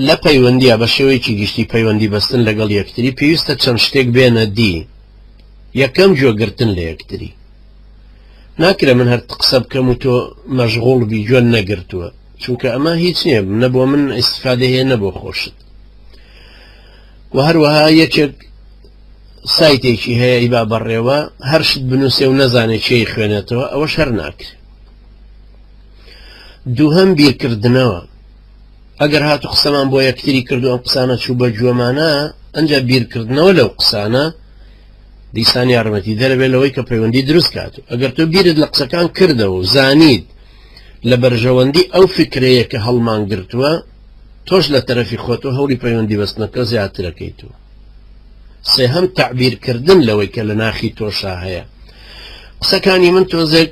لە پەیوەندییە بە شێوەیەکی گشتی پەیوەندی بەستن لەگەڵ یەکتری پێویستە چەند شتێک بێنە دی یەکەم گوێ گرتن لە یەکتری ناکرێ من هەر قسە بکەم و تۆ مەژغوڵ بی گوێن نەگرتووە چونکە ئەمە هیچ نییە نە بۆ من ئیسفادە هەیە نە بۆ خۆشت و هەروەها یەکێک سایتێکی هەیە ئیبا بەڕێوە هەرشت بنووسێ و نەزانێت چی خوێنێتەوە ئەوە شەر ناکرێت دووهم بیرکردنەوە ئەگەر هاتو قسەمان بۆ یەکتری کردو ئەم قسانە چوو بە گوێمانە ئەجا بیرکردنەوە لەو قسانە دیسان یارمەتی دەرەبێت لەوەی کە پەیوەندی دروست کات و ئەگەر تۆ بیرت لە قسەکان کردەوە و زانیت لە بەرژەوەندی ئەو فکرەیە کە هەڵمان گرتووە تۆش لە تەرەفی خۆت و هەوڵی پەیوەندی بەستنەکە زیاترەکەیت و سێهەم تعبیرکردن لەوەی کە لە ناخی تۆشا هەیە قسەکانی من تۆزێک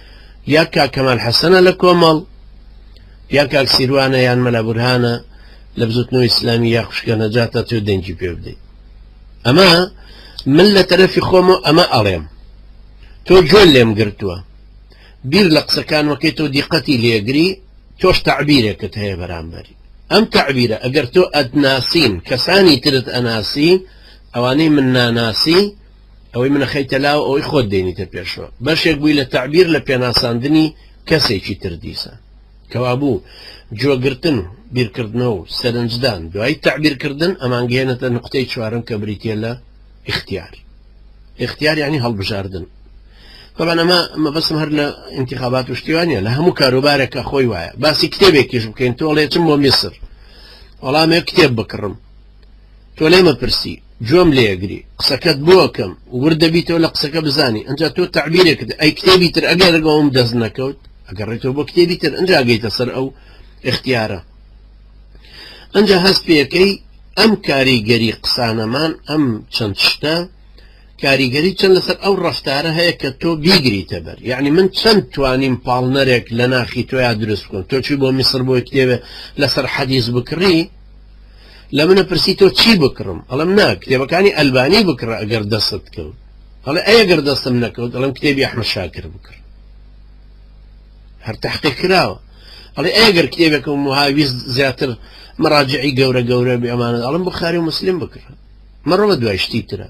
یان کاک کەمال حەسەنە لە کۆمەڵ یان کاک سیروانە یان مەلا بورهانە لە بزوتنەوە ئیسلامی یا خوشکە نەجاتە تۆ دەنگی پێ بدەیت ئەمە من لە تەرەفی خۆم و ئەمە ئەڵێم تۆ جۆن لێم گرتووە بیر لە قسەکان وەکەی تۆ دیقەتی لێگری تۆش تعبیرێکت هەیە بەرامبەری ئەم تعبیرە ئەگەر تۆ ئەتناسین کەسانی ترت ئەناسی ئەوانەی من ناناسی ئەوەی منەخەیتە لاو ئەوەی خۆت دێنیتە پێشەوە بەشێک بووی لە تەعبیر لە پێناساندنی کەسێکی تر دیسان کەوابوو جۆگرتن و بیرکردنەوە و سەرنجدان دوای تەعبیرکردن ئەمانگەێنێتە نقطەی چوارم کە بریتە لە اختیار اختیار یعنی هەڵبژاردن طبعا ئەمە مەبەسم هەر لە انتخابات و شتیوانە لە هەموو کاروبارێکە خۆی وایە باسی کتێبێکیش بکەین تۆڵێ چم بۆ میسر وەڵامێ کتێب بکڕم تۆ لێ مەپرسی گوێم لێ ئەگری قسەکەت بۆ ئەکەم ورد دەبیتەوە لە قسەکە بزانی ئەجا تۆ تەعبیرێکت ئەی کتێبی تر ئەگەر ڕگەوم دەست نەکەوت ئەگەڕێتەوە بۆ کتێبی تر ئەجا گەیتە سەر ئەو اختیارە ئەجا هەست پێەکەی ئەم کاریگەری قسانەمان ئەم چەند شتە کاریگەری چەند لەسەر ئەو ڕفتارە هەیە کە تۆ بیگریتە بەر یعنی من چەند توانیم پاڵنەرێک لە ناخی تۆیا دروست بکەم تۆچی بۆ میسر بۆی کتێبێ لەسەر حەدیز بکڕی لە منە پرسی تۆ چی بکڕم ئەڵم نا کتێبەکانی ئەلبانی بکڕە ئەگەر دەستت کەوت هەڵێ ئەگەر دەستم نەکەوت ئەڵم کتێبی ئەحمە شاکر بکڕ هەر تحقی کراوە ئەڵێ ئەگەر کتێبێک و مهاویست زیاتر مەراجعی گەورە گەورە بێمانە ئەڵم بخاری و مسلیم بکڕە مەڕەوە دوای شتی ترە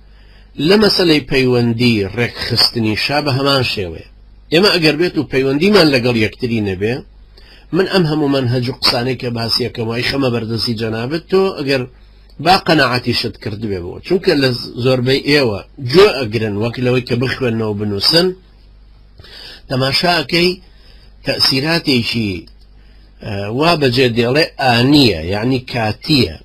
لە مەسەلەی پەیوەندی ڕێکخستنی شا بە هەمان شێوەیە ئێمە ئەگەر بێت و پەیوەندیمان لەگەڵ یەکتری نەبێ من ئەم هەموو منهج و قسانەی کە باسیەکەم وای خەمە بەردەستی جەنابەت تۆ ئەگەر با قەنەعاتی شت کردبێ بۆ چونکە لە زۆربەی ئێوە جۆ ئەگرن وەک لەوەی کە بخوێنەوە بنووسن تەماشاکەی تەسیراتێکی وا بەجێ دێڵێ ئانیە یعنی کاتیە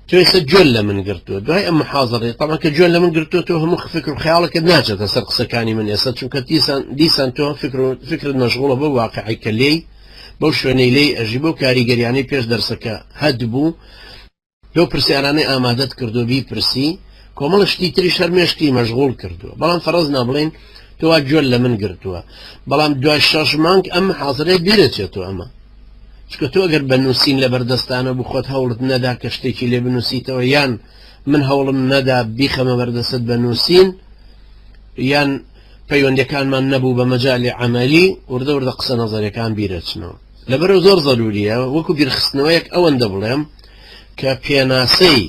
تۆ ئێستا جۆل لە من گرتووە دوای ئەم محازڕێ تەما کە جۆل لە من گرتووە تۆ هەموو فکر و خیاڵەکە ناچێتە سەر قسەکانی من ئێستا چونکە دیسان دیسان تۆ فکر و فکرت مەشغوڵە بە واقعی کە لێی بەو شوێنەی لێی ئەژی بۆ کاریگەریانەی پێش دەرسەکە هەد بوو لەو پرسیارانەی ئامادەت کردو بی پرسی کۆمەڵە شتی تری شەرمێشتی مەشغول کردووە بەڵام فەرز نابڵێن تۆوا جۆل لە من گرتووە بەڵام دوای شەش مانگ ئەم حاضرێ بیرەچێتەوە ئەمە چونکە تۆ گەر بە نووسین لەبەر دەستانە بوو خۆت هەوڵت نەدا کە شتێکی لێ بنووسیتەوە یان من هەوڵم نەدا بیخەمە بەردەست بە نووسین یان پەیوەندەکانمان نەبوو بە مەجای عملی وردە وردە قسە نەزەرەکان بیرەچنەوە لەبەرو زۆر زەروریە وەکو بیرخستنەوەیەک ئەوەندە بڵێم کە پێناسەی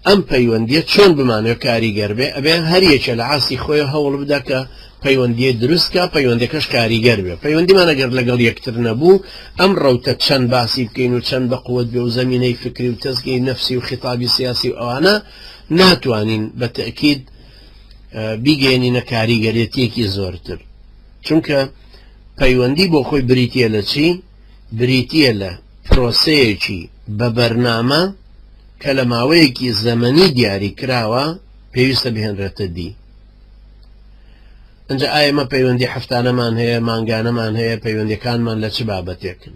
ئەم پەیوەندیە چۆن بمانەوێ کاریگەر بێ ئەبێ هەر یەکێ لە ئاستی خۆی هەوڵ بدا کە پەیوەندیە دروست کا پەیوەندەکەش کاریگەر بێ پەیوەندیمان ئەگەر لەگەڵ یەکتر نەبوو ئەم ڕەوتە چەند باسی بکەین و چەند بە قوت بێ و زەمینەی فکری و تەزگەی نەفسی و خیتابی سیاسی و ئەوانە ناتوانین بە تەکید بیگەێنینە کاریگەرێتیەکی زۆرتر چونکە پەیوەندی بۆ خۆی بریتە لە چی؟ بریتییە لە پرۆسەیەکی بە بەرنامە کە لە ماوەیەکی زەمەنی دیاریکراوە پێویستە بهێنرێتە دی ئەجا ئایمە پەیوەندی هەفتانەمان هەیە مانگانەمان هەیە پەیوەندەکانمان لە چ بابەتێکن